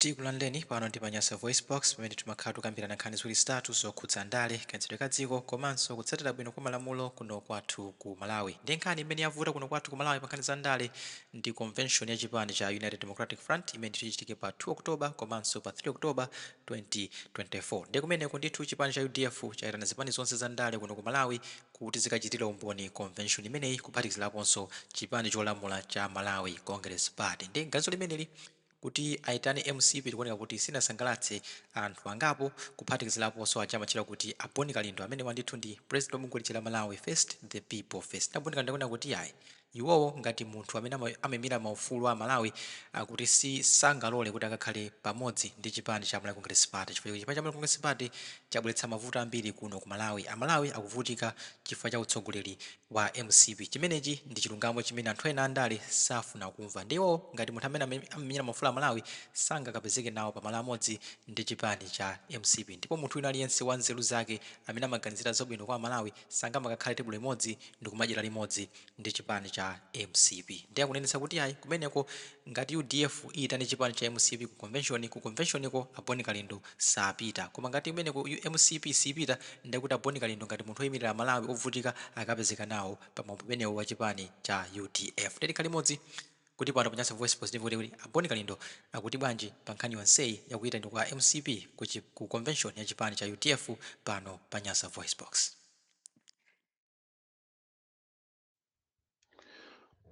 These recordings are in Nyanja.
Takulandirani pano ndi pa Nyasa VoiceBox pamene timakhala tukambirana nkhani ziwiri zitatu zokhudza ndale, kayendetsedwe ka dziko komanso kutsatira bwino kwa malamulo kuno kwathu ku Malawi. Ndiye nkhani imene yavuta kuno kwathu ku Malawi pa nkhani za ndale ndi convention ya chipani cha United Democratic Front imene ndithu ichitike pa 2 October komanso pa 3 October 2024. Ndiye kumeneko ndithu chipani cha udf chaitana zipani zonse za ndale kuno ku Malawi kuti zikachitire umboni convention imeneyi kuphatikizilaponso chipani cholamula cha Malawi Congress Party. Ndiye ganizo limeneli. kuti aitane mcp likuoneka kuti silinasangalatse anthu angapo kuphatikizilaponso aja amatchedwa kuti a Bon Kalindo amenewa ndithu ndi president wa bungwe lija la Malawi first the people first nde a Bon Kalindo akunena kuti yayi iwowo ngati munthu amene ama, amaimira maufulu a Malawi akuti sangalole kuti akakhale pamodzi ndi chipani cha Malawi Congress Party chifukwa chipani cha Malawi Congress Party chabweretsa mavuto ambiri kuno ku Malawi a Malawi akuvutika chifukwa cha utsogoleri wa mcp. Chimenechi ndi chilungamo chimene anthu ena andale safuna kumva. Ndiye iwowo ngati munthu amene amamenyera maufulu a Malawi sangakapezeke nawo pa malo amodzi ndi chipani cha mcp ndipo munthu wina aliyense wa nzeru zake amene amaganizira zabwino kwa Amalawi sangamakakhale tebulo limodzi ndikumadyera limodzi ndi chipani cha mcp. Ndiye akunenetsa kuti ayi kumeneko ngati udf iyitane chipani cha mcp ku convention, ku convention ko a Bon Kalindo sapita koma ngati kumeneko mcp sipita nde kuti a Bon Kalindo ngati munthu oyimirira amalawi ovutika akapezeka nawo pa mwambo umenewo wa chipani cha udf nde tikhale limodzi kuti pano pa Nyasa VoiceBox timve kuti kodi a Bon Kalindo akuti bwanji pa nkhani yonseyi ya kuyitanidwa kwa a mcp ku chi ku convention ya chipani cha udf pano pa Nyasa VoiceBox.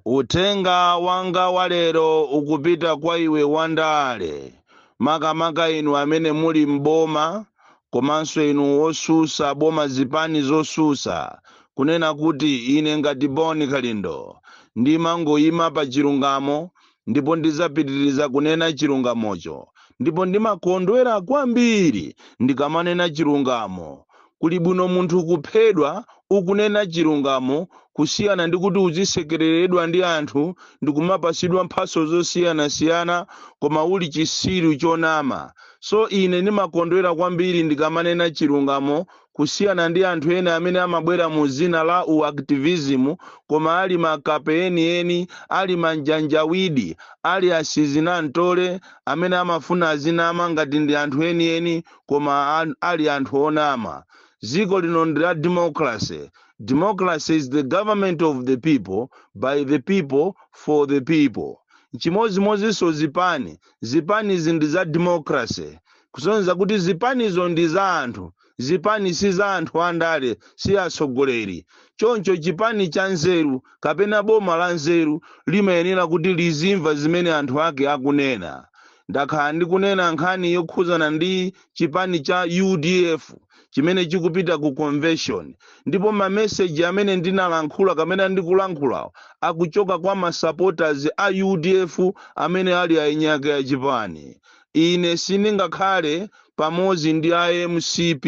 uthenga wanga wa lero ukupita kwa iwe wandale makamaka inu amene muli m'boma komanso inu osusa boma zipani zosusa kunena kuti ine ngati boni kalindo ndimangoyima pa chilungamo ndipo ndidzapitiriza kunena chilungamocho ndipo ndimakondwera kwambiri ndikamanena chilungamo kuli bwino munthu kuphedwa ukunena chilungamo kusiyana ndi kuti uzisekereredwa ndi anthu ndikumapasidwa mphaso zosiyanasiyana koma uli chisiru chonama so ine ndimakondwera kwambiri ndikamanena chilungamo kusiyana ndi anthu ena amene amabwera mu dzina la u activism koma ali makape eni eni, ali manjanjawidi, ali a sizinantole amene amafuna azinama ngati ndi anthu eni eni koma a, ali anthu onama. Dziko lino ndi la democracy. Democracy is the government of the people, by the people, for the people. Nchimodzimodzinso zipani. Zipanizi ndi za democracy. kusonyeza kuti zipanizo ndi za anthu zipani si za anthu andale si atsogoleri choncho chipani cha nzeru kapena boma la nzeru limayenera kuti lizimva zimene anthu ake akunena ndakhala ndikunena nkhani yokhuzana ndi chipani cha udf chimene chikupita ku convention ndipo mameseji amene ndinalankhula kapena ndikulankhulawo akuchoka kwa masupporters a udf amene ali ainyake ya chipani ine sindingakhale pamodzi ndi a mcp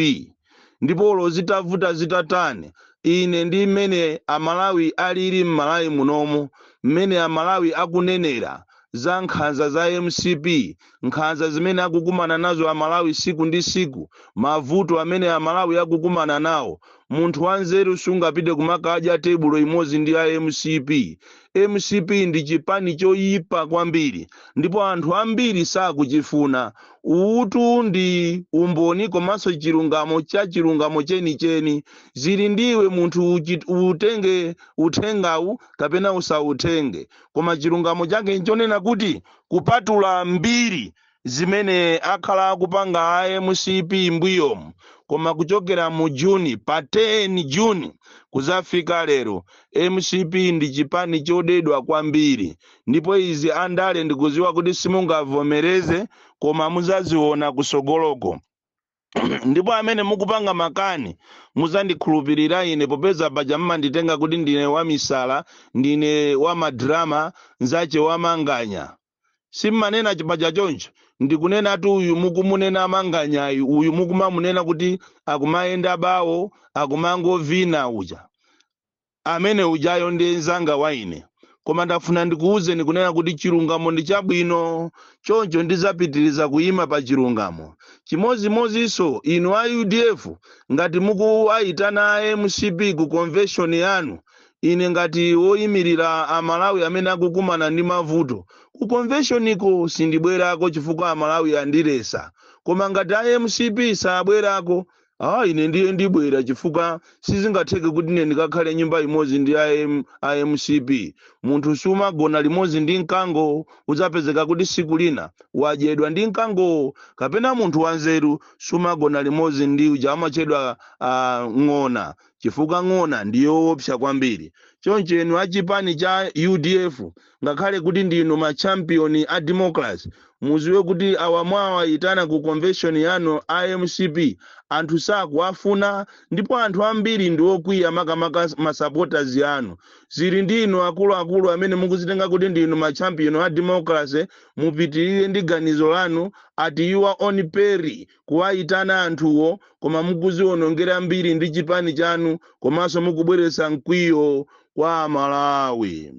ndipo olo zitavuta zitatani ine ndi mmene amalawi alili m'malawi munomo mmene amalawi akunenera za nkhanza za mcp nkhanza zimene akukumana nazo amalawi siku ndi siku mavuto amene amalawi akukumana nawo munthu wanzeru sungapite kumakadya tebulo imodzi ndi a mcp mcp ndi chipani choyipa kwambiri ndipo anthu ambiri sakuchifuna uwutu ndi umboni komanso chilungamo cha chilungamo chenicheni zili ndiwe munthu utenge uthengawu kapena usautenge koma chilungamo chake nchonena kuti kupatula mbiri zimene akhala akupanga a mcp mbuyomu koma kuchokera mu June pa 10 June kuzafika lero mcp ndi chipani chodedwa kwambiri ndipo izi andale ndikuziwa kuti simungavomereze koma muzaziona kusogoloko ndipo amene mukupanga makani muzandikhulupirira ine popeza paja mmanditenga kuti ndine wamisala ndine wamadrama nzache wamanganya simmanena paja choncho ndikunenatu uyu mukumunena manganyayi uyu mukumamunena kuti akumayenda bawo akumangovina uja amene ujayo ndi nzanga wa ine koma ndafuna ndikuwuzeni kunena kuti chilungamo ndi chabwino choncho ndizapitiriza kuyima pa chilungamo chimodzimodzinso inu a udf ngati mukuwayitana a mcp ku convention yanu Ine ngati woimirira a Malawi amene akukumana ndi mavuto, ku convention ko sindibwerako chifukwa a Malawi andilesa. Koma ngati a mcp sabwerako, aah ine ndiye ndibwera chifukwa sizingatheke kuti ine ndikakhale nyumba imodzi ndi a M, a mcp. Munthu sumagona limodzi ndi mkango, udzapezeka kuti siku lina wadyedwa ndi mkangowo. Kapena munthu wanzeru sumagona limodzi ndi uja amatchedwa a ng'ona. chifukwa ng'ona ndi yoopsa kwambiri. Choncho inu a chipani cha udf ngakhale kuti ndinu ma champion a democracy muziwe kuti awa mwawayitana ku convention yanu a mcp anthu sakuwafuna ndipo anthu ambiri ndi okwiya makamaka ma supporters anu. Zili ndi inu akuluakulu amene mukuzitenga kuti ndinu ma champion a democracy mupitirire ndi ganizo lanu at your own peril. kuwayitana anthuwo koma mukuziwonongera mbiri ndi chipani chanu komanso mukubweretsa mkwiyo kwa amalawi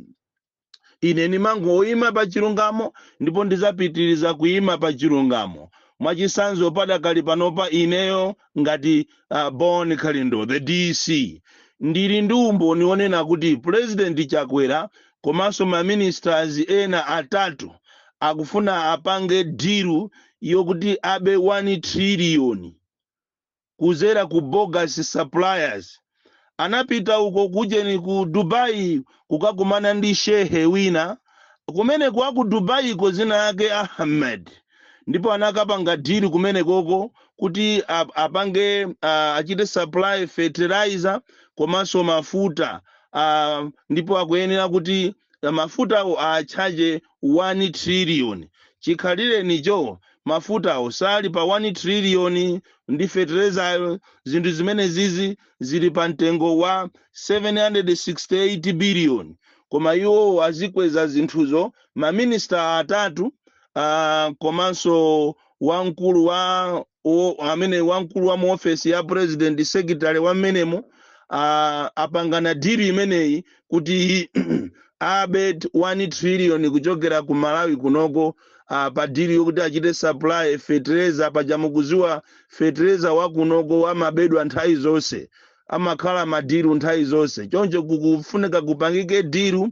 ine ndimangoyima pa chilungamo ndipo ndizapitiriza kuyima pa chilungamo mwachisanzo padakali panopa ineyo ngati uh, bon kalindo the dc ndili ndi umboni wonena kuti pulezidenti chakwera komanso ma ministers ena atatu akufuna apange deal yokuti abe 1 trillion kuzera ku bogus suppliers anapita uko kujeni ku dubai kukakumana ndi shehe wina kumene kwa ku dubaiko zina yake ahmed ndipo anakapanga dilu kumenekoko kuti ap- apange ah, achite supply fertilizer komanso mafuta ah, ndipo akuyenera kuti ah, mafutawo atchaje 1 trillion chikhalirenicho mafutawo sali pa 1 trillion ndi fertilizayo zinthu zimene zizi zili pa mtengo wa 768 billion koma iwo azikweza zinthuzo maminista atatu uh, komanso wamkulu wa o, amene wamkulu wa mu ofesi ya president secretary wa mmenemo uh, apangana diru imeneyi kuti abe 1 trillion kuchokera ku malawi kunoko uh, pa diru yokuti achite supply fertilizer paja mukuziwa fertilizer wa kunoko amabedwa nthawi zonse amakhala madiru nthawi zonse choncho kukufunika kupangike diru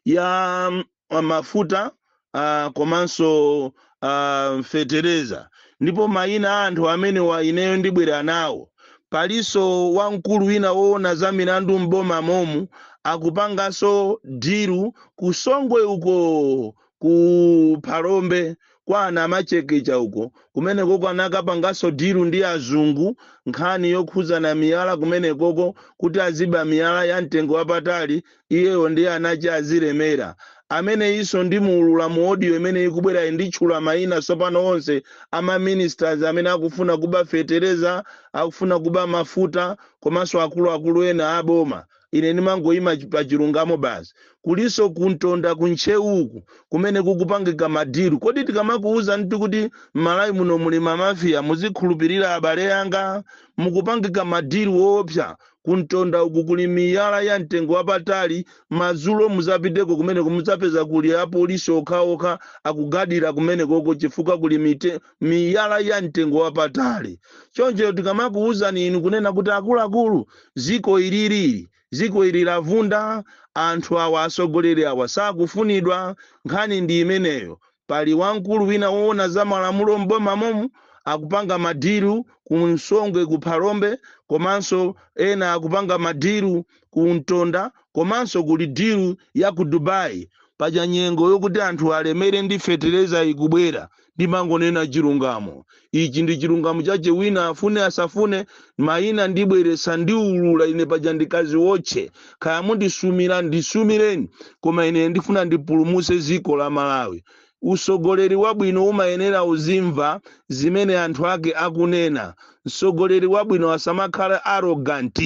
ya mm, mafuta uh, komanso uh, fetereza ndipo mayina a anthu amenewa ineyo ndibwera nawo palinso wamkulu wina woona za milandu m'boma momu akupanganso diru kusongwe uko ku phalombe kwa anamachekecha uko kumenekoko anakapanganso dilu ndi azungu nkhani yokhuzana miyala kumenekoko kuti aziba miyala ya mtengo wapatali iyeyo ndiye anachi azilemera ameneyinso ndimuulula mu audio imene ikubwerayi nditchula mayina tsopano onse ama ministers amene akufuna kuba fetereza akufuna kuba mafuta komanso akuluakulu ena aboma ine ndimangoyima pa chilungamo basi kulinso ku ntonda ku ntcheu uku kumene kukupangika madiru kodi tikamakuwuzani kuti m'malawi muno muli mamafiya muzikhulupirira abale yanga mukupangika madiru woopsa ku ntonda uku kuli miyala ya mtengo wapatali madzulo muzapiteko kumeneku muzapeza kuli apolisi okhaokha akugadira kumenekoko chifukwa kuli mite miyala ya mtengo wapatali choncho tikamakuwuzani inu kunena kuti akuluakulu ziko ili ili ziko ili lavunda anthu awa atsogoleri awa sakufunidwa nkhani ndi imeneyo pali wamkulu wina woona za malamulo m'boma momu akupanga madiru ku songwe ku phalombe komanso ena akupanga madiru ku mtonda komanso kuli diru ya ku dubai paja nyengo yokuti anthu alemere ndi fetereza ikubwera Ndimangonena chilungamo. Ichi ndi chilungamo chache wina afune asafune, maina ndibweretsa ndiulula ine paja n'kadziwotche. Kaya mundisumira ndisumireni koma ine ndifuna ndipulumutse ziko la Malawi. Usogoleri wabwino umayenera uzimva zimene anthu ake akunena. Msogoleri wabwino asamakhala arrogant.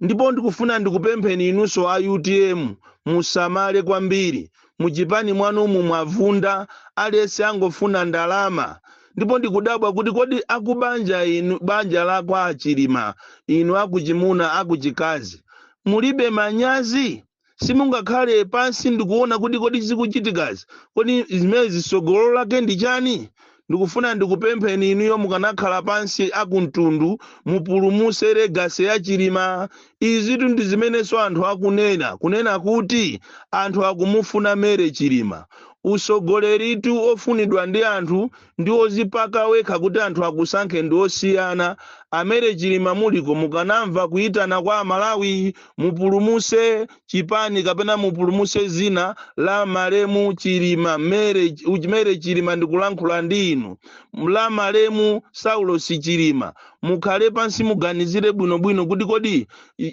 ndipo ndikufuna ndikupempheni inunso a utm musamale kwambiri muchipani mwanumu mwavunda aliyense angofuna ndalama ndipo ndikudabwa kuti kodi akubanja inu banja la kwa achilima inu akuchimuna akuchikazi mulibe manyazi simungakhale pansi ndikuona kuti kodi zikuchitikazi kodi zimenezi sogolo lake ndi chani ndikufuna ndikupempheni inuyo mukanakhala pansi akumtundu mupulumuse legacy ya chilima izitu ndi zimenenso anthu akunena kunena kuti anthu akumufuna mary chilima usogoleritu ofunidwa ndi anthu ndi ozipaka wekha kuti anthu akusankhe ndi osiyana a mary chilima muli uko mukanamva kuyitana kwa amalawi mupulumuse chipani kapena mupulumuse zina la malemu chilima mary chilima ndikulankhula ndi inu la malemu saulosi chilima mukhale pansi muganizire bwinobwino kuti kodi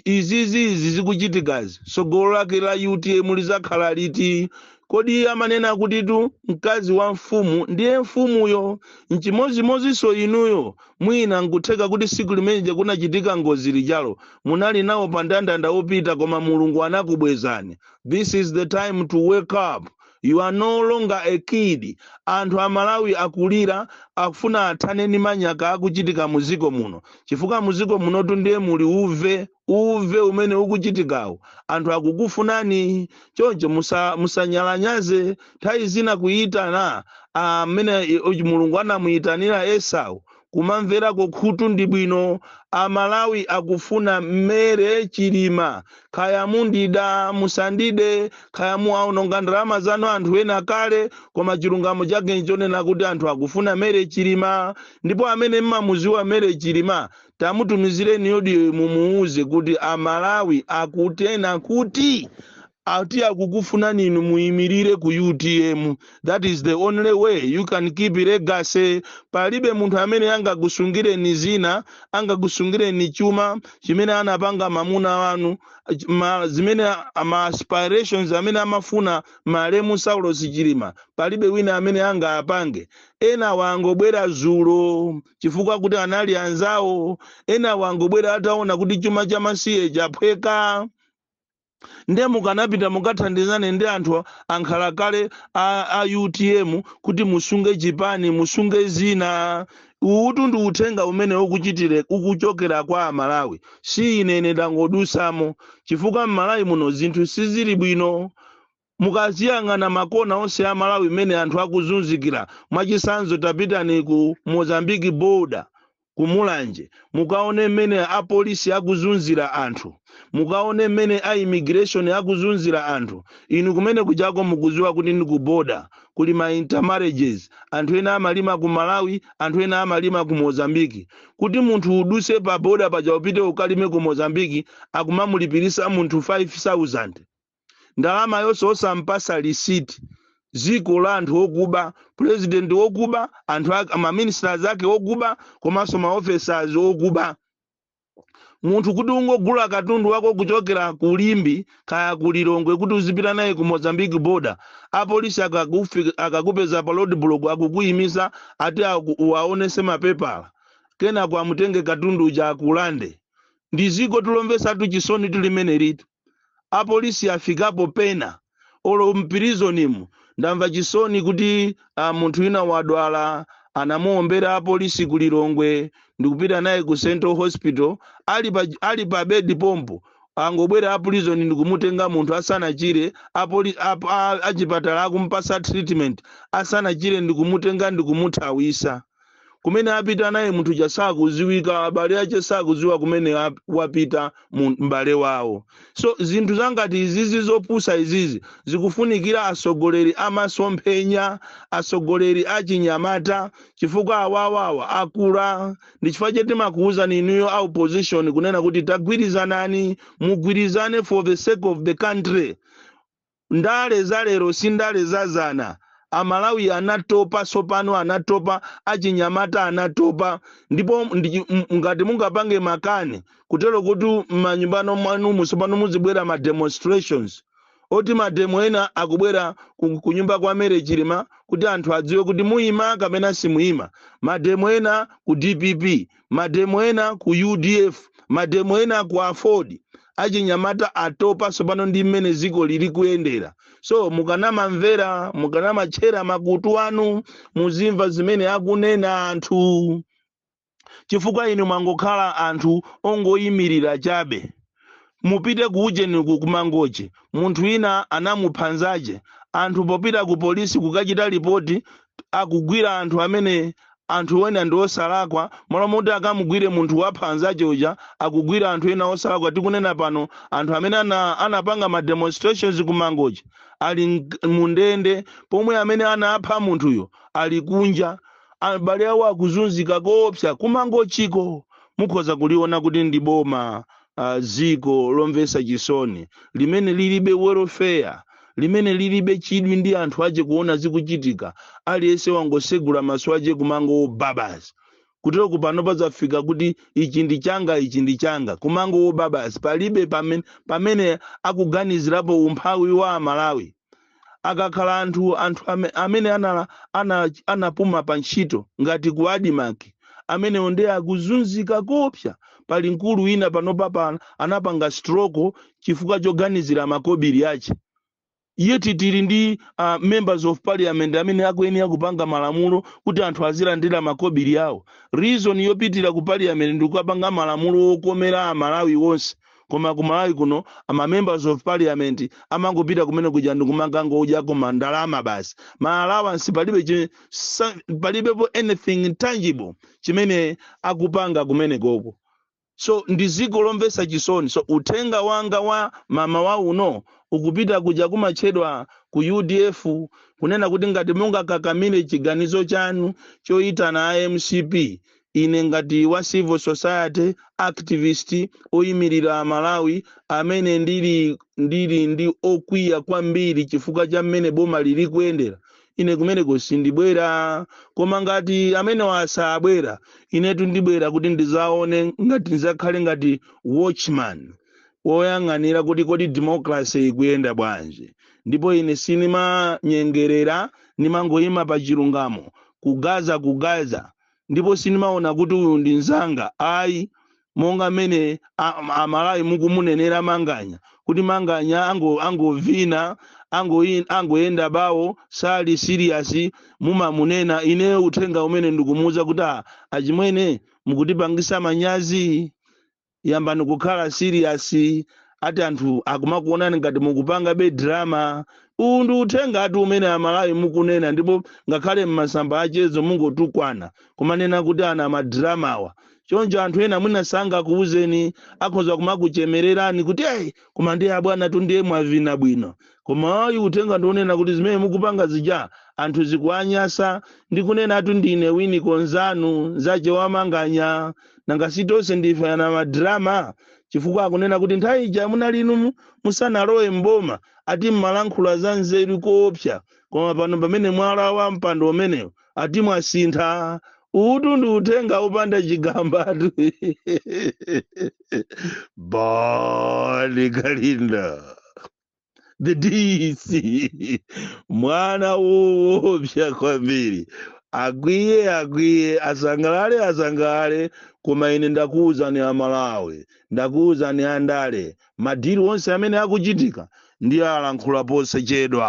izizi zikuchitikazi tsogolo lake la utm lizakhala liti Kodi si amanena kutitu mkazi wa mfumu ndiye mfumuyo? N'chimodzimodzinso inuyo. Mwina n'kutheka kuti tsiku limene lija kunachitika ngozi lijalo, munali nawo pa ndandanda wopita koma Mulungu anakubwezani. This is the time to wake up. You are no longer a kid. Anthu Amalawi akulira, akufuna athane ndi manyaka akuchitika mu dziko muno. Chifukwa mu dziko munotu ndiye muli uve. uve umene ukuchitikawo anthu akukufunani choncho musa- musanyalanyaze nthawi zina kuyitana mmene i- uchi- mulungu anamuyitanira esau kumamverako khutu ndi bwino amalawi akufuna Mary chilima khaya mundida musandide khaya muwaononga ndalama zanu anthu ena kale koma chilungamo chake nchonena kuti anthu akufuna Mary chilima ndipo amene mmamuziwa Mary chilima tamutumizireni audio mumuwuze kuti amalawi akutena kuti ati akukufunani inu muyimirire ku utm that is the only way you can keep legacy palibe munthu amene angakusungireni dzina angakusungireni chuma chimene anapanga mamuna wanu ch- ma, zimene a- ma aspirations amene amafuna malemu saulos chilima palibe wina amene angaapange ena angobwera zulo chifukwa kuti anali anzawo ena angobwera ataona kuti chuma cha masiye chaphweka nde mukanapita mukathandizane ndi anthu ankhalakale a, a utm kuti musunge chipani musunge dzina uwutu ndi uthenga umene ukuchitire ukuchokera kwa amalawi si ine ine ndangodusamo chifukwa mmalawi muno zinthu sizili bwino mukaziyang'ana makona onse a malawi mmene anthu akuzunzikira mwachitsanzo tapitani ku mozambique border ku mulanje mukaone mmene apolisi akuzunzira anthu mukaone mmene a immigration akuzunzira anthu inu kumene kujako mukuziwa kuti ndi ku border kuli ma intermarriages anthu ena amalima ku malawi anthu ena amalima ku mozambique kuti munthu uduse pa border paja upite ukalime ku mozambique akumamulipirisa munthu 5000 ndalamayonso osampasa receipt dziko la anthu okuba president wokuba anthu ake ma ministers ake okuba komanso ma officers okuba munthu kuti ungogula katundu wako kuchokera ku limbe kaya ku lilongwe kuti uzipita naye ku mozambique border apolisi akakufi- akakupeza pa road block akukuyimisa ati aku- uwaonese mapepala kenako akutenge katundu uja akulande ndi ziko ilo lomvesatu chisoni limenelitu apolisi afikapo pena olo mpirizonimu ndamva chisoni kuti ah, munthu wina wadwala anamuombera apolisi ku lilongwe ndikupita naye ku central hospital ali pa, ali pa bedi pompo angobwera a prison ndikumutenga munthu asanachire apoli- ap- a- achipatala akumpasa treatment asanachire ndikumutenga ndikumuthawisa kumene apita naye munthu uja sakudziwika abale ache sakudziwa kumene ap- wapita mu- m'bale wawo so zinthu zangati izizi zopusa izizi zikufunikira atsogoleri amasomphenya atsogoleri achinyamata chifukwa awawawa akula ndi chifukwa chake timakuwuzani inuyo a opposition kunena kuti tagwirizanani mugwirizane for the sake of the country Ndale za lero si ndale za dzana. Amalawi anatopa tsopano, anatopa, achinyamata anatopa. Ndipo ndi chi- m- ngati mungapange makani kutero kuti m'manyumbano mwanumu tsopano muzibwera ma demonstrations oti mademo ena akubwera ku, ku nyumba kwa Mary Chilima kuti anthu adziwe kuti muyima kapena simuyima. Mademo ena ku DPP, mademo ena ku udf mademo ena ku aford achinyamata atopa tsopano ndi mmene dziko lili kuyendera so mukanamamvera mukanamatchera makutu anu muzimva zimene akunena anthu chifukwa inu mwangokhala anthu ongoyimirira chabe mupite ku ujeni ku Mangochi munthu wina anamupha nzache anthu popita ku polisi kukachita lipoti akugwira anthu amene anthu ena ndi osalakwa malo moti akamugwire munthu wapha nzache uja akugwira anthu ena osalakwa tikunena pano anthu amene ana, anapanga ma demonstrations ku Mangochi ali mk- mundende pomwe amene anapha munthuyo ali kunja abale awo akuzunzika koopsa ku Mangochiko mukhoza kuliona kuti ndi boma uh, dziko lomvetsa chisoni limene lilibe welfare limene lilibe chidwi ndi anthu ache kuona zikuchitika aliyense wangosegula maso ache kumangobabaza kuteroku pano pazafika kuti ichi ndi changa ichi ndi changa kumangobabaza palibe pamene, pamene akuganizirapo umphawi wa amalawi akakhala anthu anthu ame, amene anala, ana, anapuma pa ntchito ngati ku Admarc amenewo nde akuzunzika koopsa. Pali mkulu wina panopapa anapanga stroke chifukwa choganizira makobiri ache yet tili ndi uh, members of parliament amene akuyenera kupanga malamulo kuti anthu azilandira makobiri awo reason yopitira ku parliament ndikukapanga malamulo okomera amalawi onse koma ku malawi kuno ma members of parliament amangopita kumene kuja ndikumakangodyako mandalama basi ma allowance palibe chi- sa- palibepo anything tangible chimene akupanga kumene koko so ndi dziko lomvetsa chisoni so uthenga wanga wa mmawa uno ukupita kuja kumatchedwa ku udf kunena kuti ngati mungakakamire chiganizo chanu choyitana a mcp Ine ngati wa civil society activist oyimilira amalawi amene ndili ndili ndi okwiya kwambiri chifukwa cha mmene bomali likuyendera ine kumeneko sindibwera koma ngati amenewa sabwera inetu ndibwera kuti ndizaone ngati ndizakhale ngati watchman woyang'anira kuti kodi democracy ikuyenda bwanji ndipo ine sinimanyengerera nimangoyima pa chilungamo kugaza kugaza ndipo sindimaona kuti uyu ndi mzanga ayi monga mmene a- a- amalawi mukumunenera manganya kuti manganya ango- angovina angoyi- angoyenda bawo sali siriyasi mumamunena ine uthenga umene ndikumuuza kuti "Ah, achimwene mukutipangisa manyazi yambani kukhala serious ati anthu akumakuonani ngati mukupangabe drama uwu ndi uthengatu umene amalawi mukunena ndipo ngakhale m'masamba a mchezo mungotukwana kumanena kuti anamadramawa choncho anthu ena mwina sangakuwuzeni akhoza kumakuchemererani kuti eyi koma ndiye abwanatu ndiye mwavina bwino koma ayi uthenga ndi onena kuti zimene mukupanga zija anthu zikuwanyasa ndikunenatu ndine Winiko nzanu nzache wa manganya nanga si tonse ndife anamadrama chifukwa akunena kuti nthawi ija munali inu mu- musanalowe mboma ati mmalankhula za nzeru koopsa koma pano pamene mwalawa mpando umenewu ati mwasintha uwutu ndi uthenga opanda chigambatu Bon Kalindo the DC mwana woopsa kwambiri akwiye akwiye asangalale asangalale koma ine ndakuwuzani amalawi ndakuwuzani andale madili onse amene akuchitika ndiwalankhula posachedwa